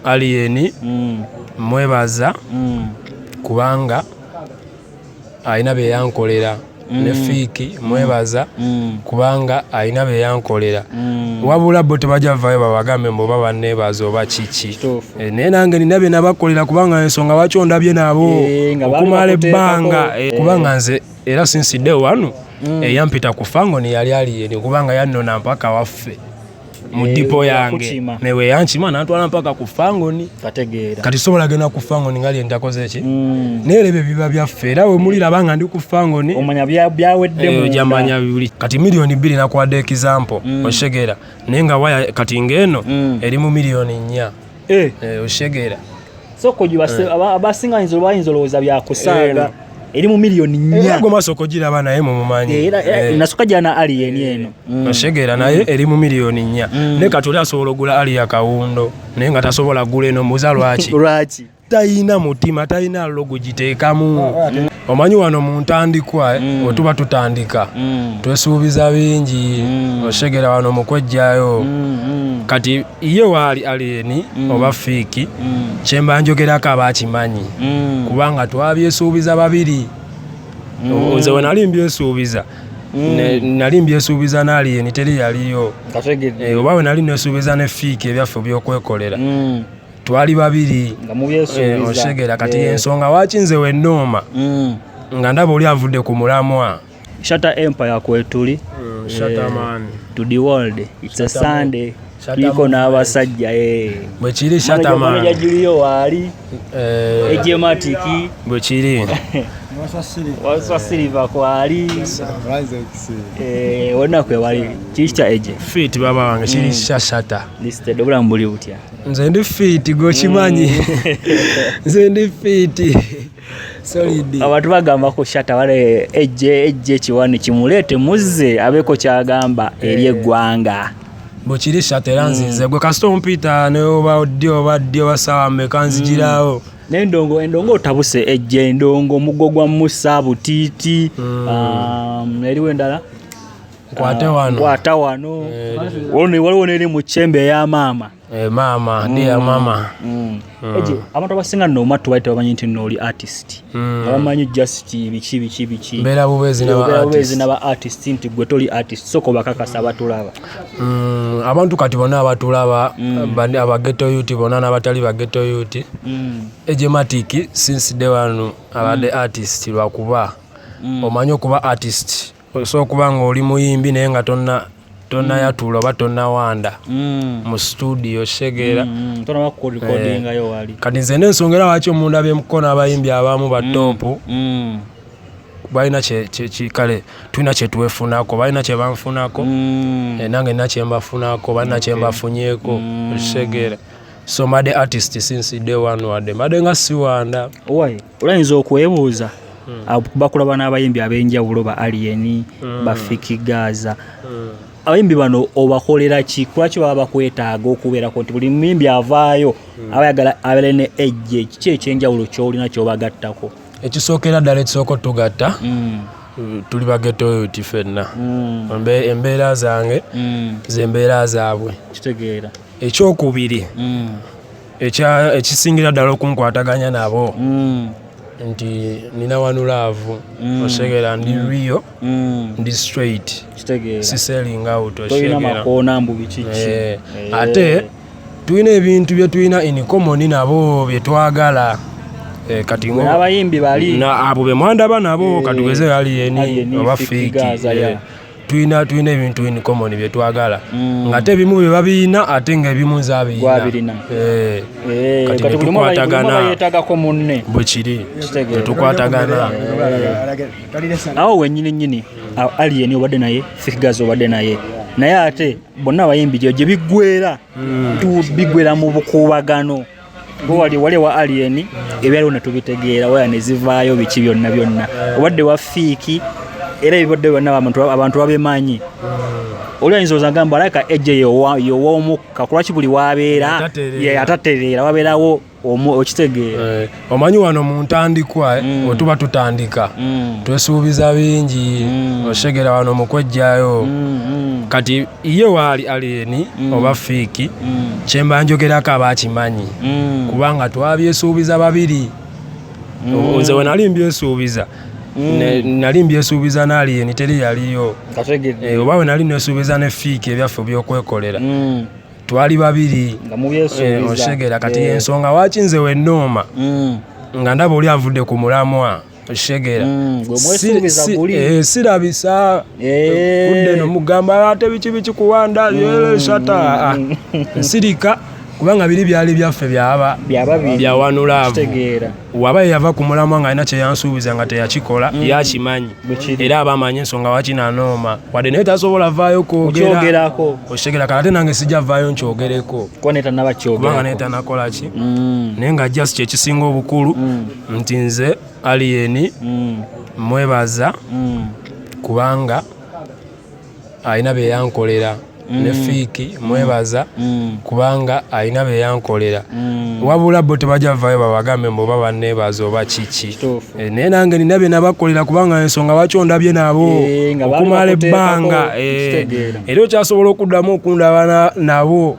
Alien mm. mwebaza mm. kubanga alina bye yankolera mm. ne fiiki mm. mwebaza mm. kubanga alina bye yankolera mm. wabula bo tebajja vayo babagambe mbu oba banneebaza oba kiki e, naye nange nina bye nabakolera kubanga ensonga lwaki ondabye nabo e, okumala ebbanga e, kubanga nze era sinsidde wano mm. eyampita ku fango neyali aliyeni kubanga yannona mpaka waffe mu eh, dipo yange newe yankima nantwala mpaka ku fangoni kati sobola genda ku fangoni nga lyentakozeki mm. naye ebyo biba byaffe era wemuliraba nga ndi ku fangoni jamanya eh, bibuli kati miliyoni bbiri nakwade ekizampo mm. oshegera naye nga waya kati ngaeno mm. eri mu miliyoni nnya eh. eh, oshegera so koji eh. abasinga bayinza bayinza olowooza byakusaaga eri mu miliyoni nnyagomaasookogiraba naye mumumanyi nasoka jana alien eno mm. oshegera naye mm. eri mu miliyoni nnya mm. naye kati oli asobola ogula ali ya kawundo naye nga tasobola gula eno mbuuza lwaki lwaki tayina mutima tayina logo giteekamu ah, ah, omanyi wano mu ntandikwa eh, mm. wetuba tutandika mm. twesuubiza bingi mm. oshegera wano mukwejjayo mm, mm. kati ye waali aliyeni mm. oba fiiki mm. kyemba njogerako aba akimanyi mm. kubanga twabyesuubiza babiri mm. nze wenali mbyesuubiza mm. nali mbyesuubiza naaliyeni teri yaliyo eh, oba wenali nesuubiza ne fiiki ebyaffe byokwekolera mm. twali babiri eh, oshegera kati yeah. ensonga waki nze wenooma mm. nga ndaba oli avudde ku mulamwa Shatta Empire kwetuli mm, Shatta eh, man to the world it's Shatta a Sunday tuliko n'abasajja eh. bwekiri Shatta man ya Julio wali eh eje matiki bwekiri wasa silver kwali eh wona kwe wali chicha eje fit baba wange kiri mm. Shatta listed obula mbuli butya nze ndi fit gochimanyi mm. nze ndi fit abantu bagamba ku shata wale ejje ejje kiwani kimuleete muzze abeeko kyagamba eri eh. eggwanga bwekiri shata era mm. nzinze gwe kasita ompiita neoba ddi oba ddi oba saawa meka nzigirawo mm. nendongo endongo otabuse ejje endongo omugo gwa musa butiiti mm. um, eriwo endala nkwata wano eh, waliwo neri mu kyembe eya maama Eh, maama mm. dear mama mm. mm. eje abantu abasinga no matu baita bamanyi nti no oli artist mm. abamanyi just biki biki biki bela bubezi na bela bubezi na ba artist nti gwe toli artist soko bakakasa abatulaba mm. abantu kati bona abatulaba mm. bani abageto yuti bona na batali bageto yuti mm. eje matiki since day one abade mm. artist lwakuba mm. omanyo kuba artist osobola okuba nga oli muyimbi naye nga tonna tonayatula oba tonawanda mm. mu studio shegeera mm, mm, eh, kati nze nensonga era waki omunda bemuko n'abayimbi abamu batopu balina kale tulina kyetuwefunako balina kyebanfunako eh, nange nina kyembafunako balina kyembafunyeko shegeera so made artist since day one wade made nga siwanda owai olayinza okwebuuza hmm. bakulaba n'abayimbi ab'enjawulo ba aliyeni hmm. bafiki gaza hmm. abayimbi bano obakolera ki kulwaki baba bakwetaaga okubeerako nti buli muyimbi avaayo aba yagala abeere ne ejje kiki ekyenjawulo kyolina kyobagattako ekisookera ddala ekisooka otugatta tuli bagetoyo ti fenna embeera zange zembeera zaabwe kitegeera ekyokubiri mm. ekisingira ddala okunkwataganya nabo mm. nti nina wanu laavu mm. osegera ndi mm. rio mm. ndi straight siseling out osegera eh. ate tulina ebintu byetulina in common nabo byetwagala Eh, kati abayimbi bali abo bemwandaba nabo eh, katugeze aliyeni oba fiki tulina tulina ebintu in common bye twagala mm. ngate ebimu bye babiyina ate nga ebimu nze abiyina eh. eh, kati netukwatagana bwe kiri netukwatagana awo wenyini nyini alien obadde naye figazi obadde naye naye ate bonna abayimbi gyo gye biggwera mm. bigwera mu bukuubagano wali wali wa alien ebyaliwo ne tubitegeera waya ne zivaayo biki byonna byonna obadde wa fiiki era ebibadde byonna abantu babimanyi oli ayinza ozagamba alabika ejje yowa omukka kulwaki buli wabeera atatereera wabeerawo okitegeera eh, omanyi wano mu ntandikwa eh, mm. wetuba tutandika mm. twesuubiza bingi mm. oshegera wano mukwejjayo kati ye waali aliyeni mm. oba fiiki mm. kyemba njogerako aba akimanyi mm. kubanga twabyesuubiza babiri mm. nze wenali mbyesuubiza mm. nali mbyesuubiza naaliyeni teri yaliyo eh, oba wenali nesuubiza ne fiiki ebyaffe byokwekolera mm. twali babiri eh, oshegera kati yeah. ensonga waki nze wenooma mm. nga ndaba oli avudde ku mulamwa okitegera mm, eh, sirabisa eh. kudde nomugamba ate biki biki kuwanda mm. shata ah, nsirika kubanga biri byali byaffe byaba byawanulaavu waba yeyava ku mulamwa nga alina kyeyansuubiza nga teyakikola mm. yakimanyi era aba amanyi ensonga waki nanooma wadde naye tasobola vaayo kwogerako okitegera kale ate nange sijja vaayo nkyogereko kubanga naye tanakolaki mm. naye nga just kyekisinga obukulu mm. nti nze aliyeni mm. mwebaza mm. kubanga alina byeyankolera mm. ne fiiki mwebaza kubanga alina byeyankolera wabula bo tebajja vayo babagambe mbu oba banebaza oba kiki eh, naye nange nina byenabakolera kubanga ensonga lwaki ondabye nabo eh, okumala ebbanga eh, era okyasobola okuddamu okundaba nabo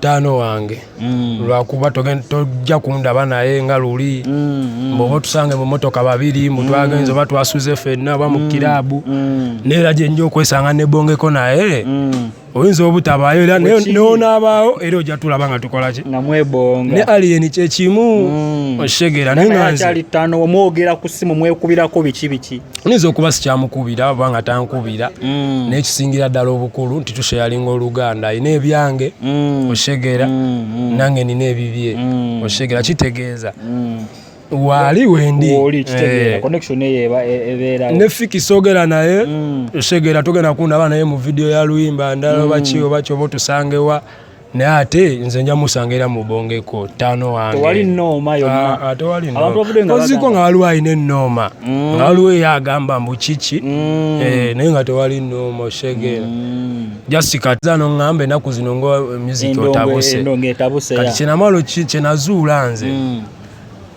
taano wange mm. lwakuba tojja kundaba naye nga luli mm, mm. mboba otusange mumotoka babiri mutwagenza oba twasuze fenna oba mukiraabu neera gyenja okwesanga nebongeko naye oyinza obutabaayo era nonaabaawo era ojja tulaba nga tukolaki ne aliyeni kyekimu okitegeera nayeomwogera ku simu mwekubirako biki biki nyinza okuba sikyamukubira oba nga tankubira mm. naye kisingira ddala obukulu nti tusheyalinga oluganda alina ebyange mm. oshegera mm, nange nina ebibye oshegera kitegeeza waali wendi eh. e, ne fiki sogera naye oshegera togenda kundaba naye mu vidiyo ya luyimba ndala obaki obaki oba otusangewa naye ate nze nja musanga era mubongeko tano wangeoziko nga waliwo alina enooma mm. nga waliwo eyo agamba mbu kiki mm. eh, naye nga tewali nooma oshegera mm. jasikaza noŋamba enaku zino nga muziki otabuse kati kyenamalo kyenazuula nze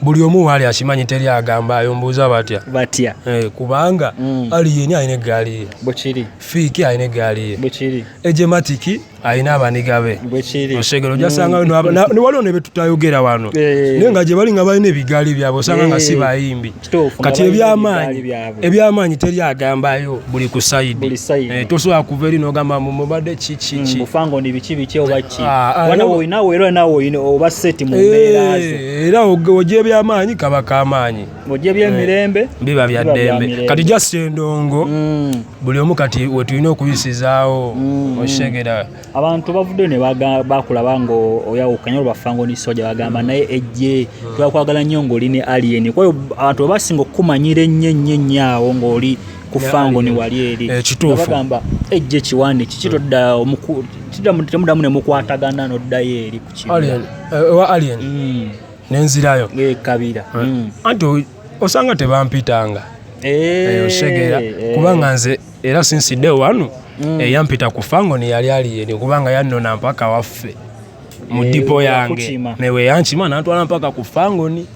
buli omu waali akimanyi teri agamba ayo mbuuza batya batya eh, kubanga mm. ali yeni alina eggaali ye bwekiri fiiki alina eggaali ye bwekiri ejematiki alina abaniga be bwekiri osegero ojasangayo mm. waliwo ne betutayogera wano eh. naye nga gye bali nga balina ebigaali byabwe osanga nga eh. si bayimbi kati ebyamaanyi ebyamaanyi teri agambayo buli ku sayidi eh, tosobola kuva eri nogamba mumubadde kikikikiera oja ebyamaanyi kaba kamaanyi ebyemirembe eh, biba byaddembe kati jasi endongo mm. buli omu kati wetulina okuyisizaawo mm. okitegera abantu bavuddeyo ne bakulaba ngaoyawukanya olwebaffa nga oli soja bagamba naye ejje twakwagala nnyo ngaoli ne alien kwayo abantu webasinga okukumanyira ennyo ennyo ennyo awo ngaoli kufa ngo ni wali eri eh, kituufubagamba ejje kiwandi kiki todda temudamu ne mukwatagana noddayo eri ku kiowa eh, alien mm. nenzirayo eh, kabira mm. anti osanga tebampitanga eyo segera kubanga nze era since day one mm. eyampita ku fango ne yali ali yene kubanga yannona mpaka waffe mu eh, dipo yange newe yankima nantwala mpaka ku fangoni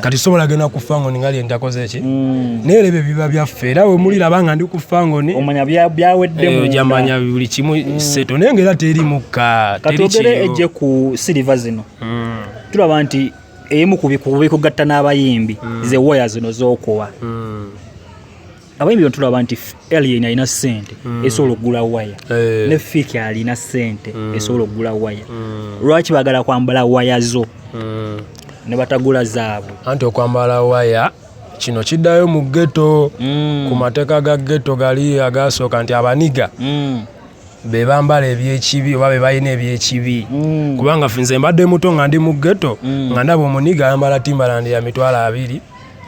kati sobola genda ku fangoni nga lyendakoze ki mm. naye era ebyo biba byaffe era wemuliraba nga ndi ku fangoni jamanya eh, buli kimu mm. seto naye nga era teri mukka katwogere ejje ku siliva zino mm. tulaba nti emu kubikugatta n'abayimbi mm. ze waya zino zokuwa mm. abayimbi bantulaba nti alien alina sente mm. esobola okugula waya hey. Eh. ne fiki alina sente mm. esobola okugula waya mm. lwaki bagala kwambala waya zo mm. ne batagula zaabwe anti okwambala waya kino kiddayo mu geto mm. ku mateeka ga geto gali agasooka nti abaniga mm. be bambala ebyekibi oba be balina ebyekibi mm. kubanga nze mbadde muto nga ndi mu geto mm. nga ndaba omuniga ayambala timbalandi ya mitwalo abiri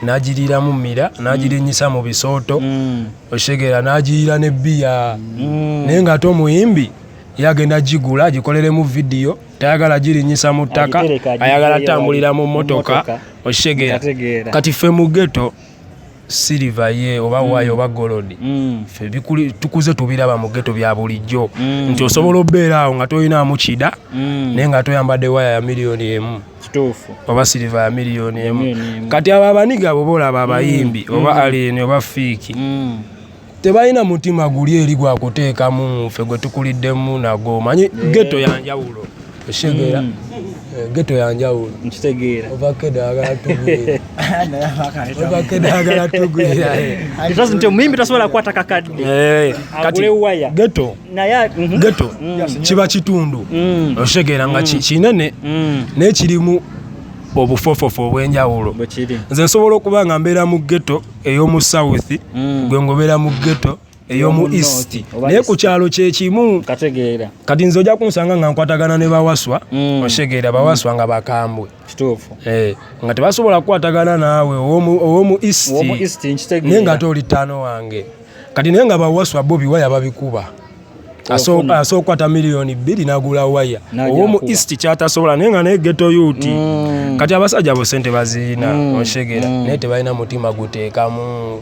n'agiriiramu mmira n'agirinnyisa mu bisooto mm. okitegera n'agiriira ne bbiya mm. naye ng'ate omuyimbi ye agenda gigula agikoleremu vidiyo tayagala girinnyisa mu ttaka ayagala tambulira mu mmotoka okitegera kati ffe mu geto siriva ye oba mm. wayo oba golodi mm. fe tukuze tubiraba mu geto bya bulijjo mm. nti osobola obeera awo nga tolinaamu kida naye nga toyambadde waya ya miliyoni emu kituufu oba siriva ya miliyoni emu kati abo abaniga abo boolaba abayimbi mm. oba mm. aliyeni oba fiiki mm. tebalina mutima guli eri gwakuteekamu nfe gwe tukuliddemu nago omanyi geto yanjawulo oshegera geto yanjawulo nkitegeera ovakede agala tugwiravakede agala tugwira omuyimbi tasobola kukwata kakadde agule waya geto Mhm. geto mm. kiba kitundu mm. okitegeera nga mm. kinene naye kirimu obufofofo obwenjawulo nze nsobola okuba nga mbeera mu geto ey'omu south gwe ngobeera mu geto eyomu east naye ku kyalo kyekimu kati nze ojja kunsanga nga nkwatagana ne bawaswa oshegeera bawaswa nga bakambwe kituufu eh, nga tebasobola kukwatagana naawe owomu east naye nga ate oli ttaano wange kati naye nga bawaswa bobi waya babikuba asooka okukwata miliyoni bbiri nagula waya owomu east kyatasobola naye nga naye geto yuti mm. kati abasajja bo sente baziina mm. oshegera mm. naye tebalina mutima guteekamu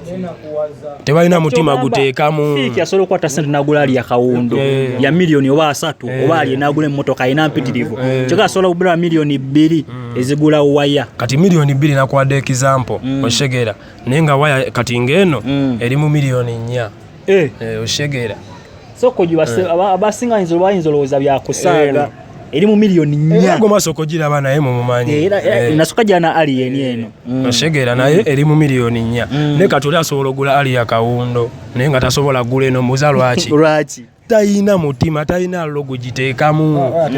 tebalina mutima guteekamu fiiki asobola okukwata sente nagula ali yakawundu eh. ya miliyoni oba asatu eh. oba ali nagula emmotoka alina mpitirivu eh. kyoka asobola kugula miliyoni bbiri hmm. ezigula waya kati miliyoni bbiri nakwadde ekizampo hmm. oshegera naye nga waya kati ngaeno hmm. eri mu miliyoni nnya oshegera sokoji abasinga bayinza olowooza byakusaaga eri mu miliyoni nnyagomaasokogira aba naye mumumanyi nasoka jana alien eno oshegera naye eri mu miliyoni nnya naye kati oli asobola ogula ali yakawundo naye nga tasobola gula eno muza lwaki lwaki tayina mutima tayina lo gugiteekamu ah, ah,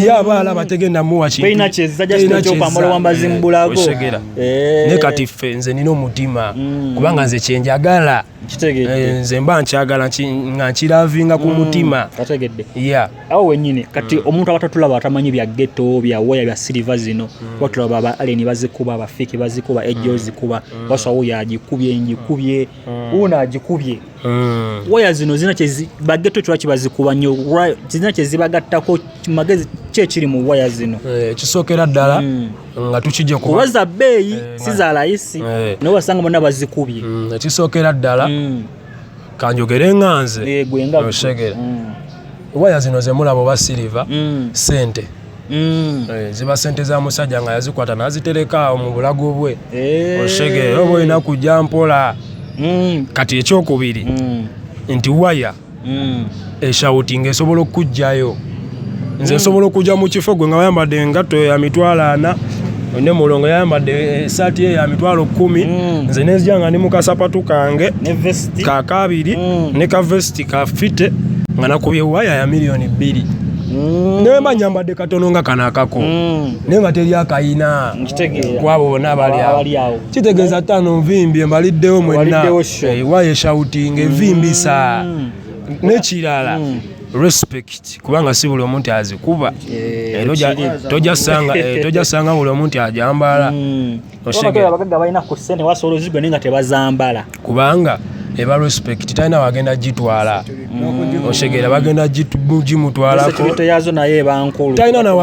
ye aba alaba tegenda muwa kintuoshegera eh. ne kati ffe nze nina omutima mm. kubanga nze kyenjagala Eh, nze mba nkyagala nga nkiravinga ku mm, mutima ategedde ya awo wenyini kati mm. omuntu abatatulaba atamanyi bya geto bya waya bya siliva zino mm. batulaba ba aleni bazikuba bafiki bazikuba ejo zikuba basawo yagikubye ngikubye una agikubye waya zino zina bageto kirwaki bazikuba nyo zina kyezibagattako magezi kyekiri mu waya zino eh, kisookera ddala nga tukijja kuba kuba za bbeeyi Eh, si za layisi Eh. naye wasanga bonna bazikubye Mm, ekisookera ddala Mm. kanjogere nga nze Eh, gwe nga Oshegera. Mm. waya zino zemulaba oba siliva Mm. sente Mm. Eh, ziba sente za musajja nga yazikwata nazitereka awo mu bulago bwe Eh. oshegere oba olina kujja mpola Mm. kati ekyokubiri Mm. nti waya mm. eshawuti nga esobola okukugjayo nze mm. nsobola okujja mu kifo gwe nga wayambadde engatto ya mitwalo ana ne mulongo yayambadde esaati eh, ye ya mitwalo kumi mm. nze nenzija nga ndi mu kasapatu kange kakabiri mm. ne kavesiti kafite nga nakubye waya ya miliyoni bbiri Mm. naye mba nyambadde katono nga kano akako mm. naye nga teri akayina kwabo bona abali awo kitegeeza tano nvimbye mbaliddewo mwenna waye shouting evimbisa mm. nekirala mm. respect kubanga si buli omuntu azikuba eh, tojasanga eh, eh, buli omuntu ajambala mm. kubanga eba respect talina wagenda gitwala oshegera bagenda gimutwalako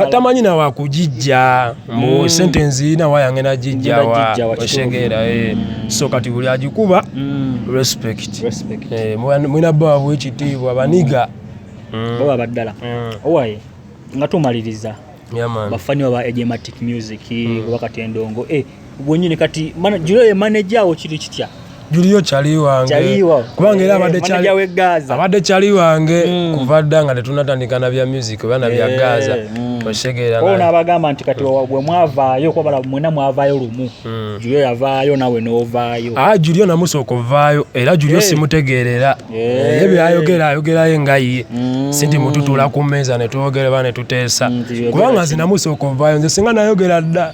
tamanyi nawakugijja mu sentensi nawa yange nagijjawa oshegeera eh. so kati buli agikuba mm. respect eh, mwina bwabwe ekitiibwa baniga mm. baba baddala mm. owaye nga tumaliriza bafaniwa ba ejematic music oba katendongo eh, wenyini kati julo ye manager awo kiri kitya Julio chali wange kubanga era abadde eh, chali abadde chali wange mm. kuva dda nga tetunatandika na bya music oba na bya eh, Gaza mm. oshegeera ona abagamba nti kati mm. bwe mwavaayo kuba bala mwena mwavaayo lumu Julio yavaayo nawe n'ovaayo ah Julio namusooka ovaayo era Julio eh. simutegeerera ye byayogera ayogerayo nga ye si nti mututuula ku mmeeza ne twogera ba ne tuteesa kubanga nze namusooka ovaayo nze singa nayogera dda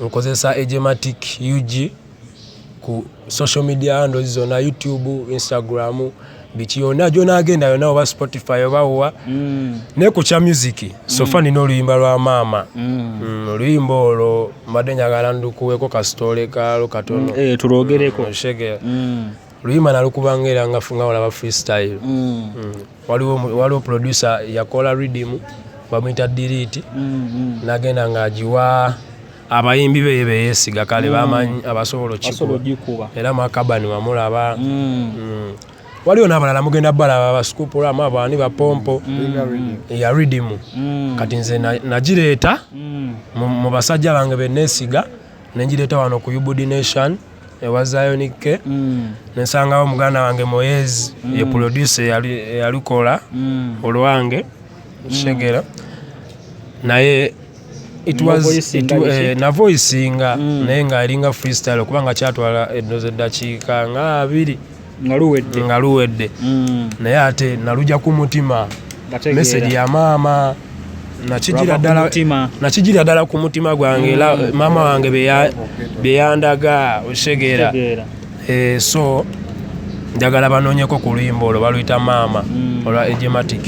Nkozesa Ejematic UG ku social media handles zona YouTube, Instagram, biki yona gyonagenda yona oba Spotify oba wa mm. ne ku kya music so mm. far nina oluyimba lwa maama mm. mm, oluyimba olwo mbadde njagala ndukuweko kasitole kalo katono mm, eh, tulogereko mm, mm. luyima nalukuba nga era ngafu nga olaba freestyle mm. Mm. waliwo waliwo producer yakola rhythm bamuyita delete mm, nagenda nga agiwa abayimbi beye beyesiga kale bamanyi abasobola okikuba era makabani wamulaba waliwo nabalala mugenda balaba basukupula ama bani bapompo ya rhythm kati nze nagireeta mu basajja bange benesiga nengireeta wano ku ubd nation ewa Zion K mm. nesangawo muganda wange Moyez mm. ye producer yalikola mm. olwange mm. shegera naye it was it, eh, na voice nga mm. naye nga alinga freestyle kubanga kyatwala edoze dakiika nga abiri nga luwedde nga luwedde mm. naye ate naluja ku mutima message ya maama nakijira ddala nakijira ddala ku mutima gwange era mm. maama wange beyandaga okisegeera eh, so njagala banoonyeko ku luyimba olwo baluyita maama mm. olwa ejematic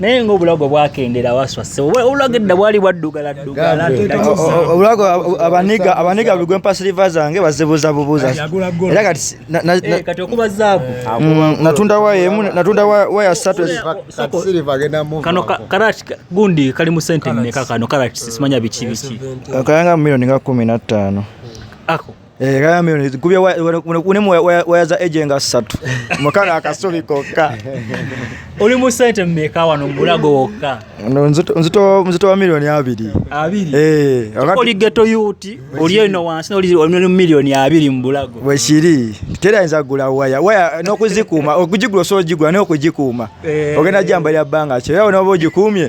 naye ngaobulago bwakendera waswase obulago edda bwali bwaddugala ddugalaobulago abaniga abaniga buli gwempa siliva zange bazibuuza bubuuza era kati eh, kati okuba zaabu mm, natunda waya emu natunda waya satu kano karati gundi kali mu sente mmeka kano karati simanya biki biki kayanga mu milioni nga kumi na ttaano ako Eh, kayambe kubye unemu wayaza ejenga satu mukana akasuli kokka oli mu sente mmeka wano mubulago wokka no nzito nzito wa milioni abiri abiri eh wakati oli geto yuti oli eno wansi oli oli milioni abiri mubulago weshiri tera nza gula waya waya no kuzikuma okujigula so jigula no kujikuma eh. ogenda jamba lya banga kyo yawo no bojikumye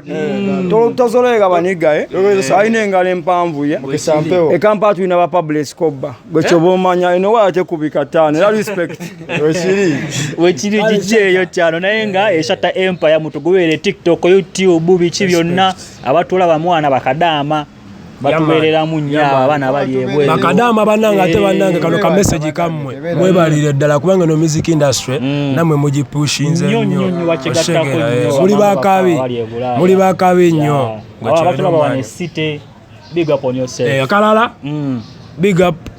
hmm. tolutazoleka baniga eh? alina engalo empanvu ye ekampa tulina ba public kobba gwe kyoba eh? omanya eno waya tekubika taano era respect wekiri kiki eyo kyano naye nga eshata empire mutugubeere tiktok youtube biki byonna abatulaba mwana bakadaama batubeereramu nnyo abo abaana bali ebweru bakadaama bannange ate bannange kano ka message kammwe mwebalire ddala kubanga no music industry mm. namwe mugipushinze nnyo muli bakabi muli bakabi nnyo akalala big up